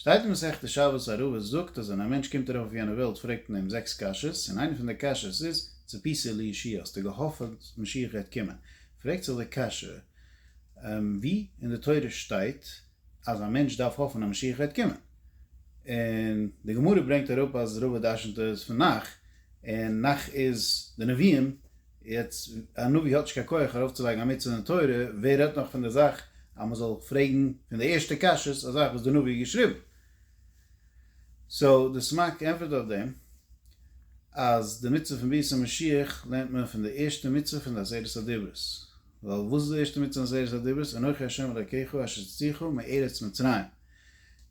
שטייט אין מסכת שבת א רבא זאגט אז ווען א מענטש קומט ארויף אויף יענע וועלט פרעגט מען אים זעקס קשיות און איינע פון די קשיות איז צפית לישיעה האסטו געהאפעט משיח גייט קומען פרעגט זיך די קשיא ווי אין די תורה שטייט אז א מענטש דארף האפען אז משיח גייט קומען און די גמרא ברענגט אראפ אז רבא דרשנ'ט עס פון נח און נח איז די נביאים יעצט א נביא האט נישט קיין כח ארויף צו לייגן א מצוה אין תורה, ווער רעדט נאך פון די זאך אז מען זאל פרעגן פון די ערשטע קשיות א זאך וואס די נביא האט געשריבן. סאו די סמק ענטפערט אויף דעם אז די מצוה פון ביאת המשיח לערנט מען פון די ערשטע מצוה פון די עשרת הדיברות, ווייל וואס איז די ערשטע מצוה פון די עשרת הדיברות? אנכי ה' אלקיך אשר הוצאתיך מארץ מצרים.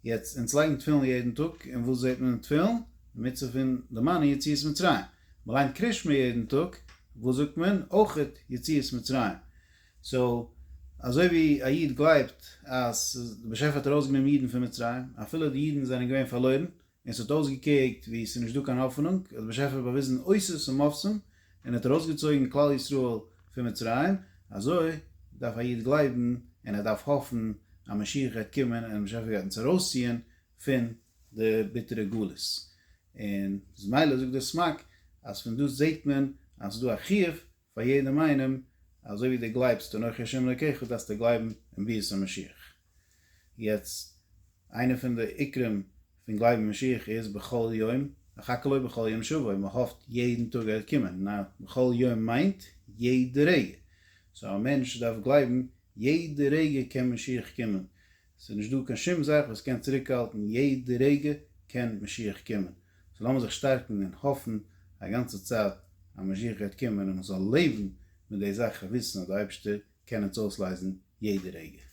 יעצט אונז לייגן תפילין יעדן טאג און וואס זעט מען אין תפילין? די מצוה פון די מנה יציאת מצרים. מען ליינט קריש מיר יעדן טאג, וואס זאגט מען? אויכעט יציאת מצרים. סאו אזוי ווי א איד גלייבט אז די באשעפער האט ארויסגענומען אידן פון מצרים, אפילו די אידן זענען געווען פארלוירן, און ס'האט אויסגעקוקט ווי ס'איז נישט דא קיין האפענונג, האט די באשעפער באוויזן אותות ומופתים, און האט ארויסגעצויגן כלל ישראל פון מצרים, אזוי דארף א איד גלייבן, און ער דארף האפן אז משיח גייט קומען און די באשעפער גייט אונז ארויסציען פון די ביטערע גלות, און איז מילא זאגט דער סמק אז פון דאס זעהט מען אז ס'איז דא א חיוב פאר יעדעם איינעם אזוי ווי די גלייבסט אנכי השם אלקיך דארפסטו גלייבן אין ביאת המשיח, יעצט איינע פון די עיקרים פון גלייבן אין משיח איז בכל יום אחכה לו בכל יום שובו מען האפט יעדן טאג ער קומען, נה בכל יום מיינט יעדע רגע, סאו א מענטש דארף גלייבן יעדע רגע קען משיח קומען, ס'איז נישט דא קיין שום זאך וואס קען צוריקהאלטן, יעדע רגע קען משיח קומען, סאו לאמיר זיך שטארקן און האפן א גאנצע צייט אז משיח גייט קומען און מ'זאל לעבן מיט די זאך און וויסן אז די אייבשטער קען אונז אויסלייזן יעדע רגע.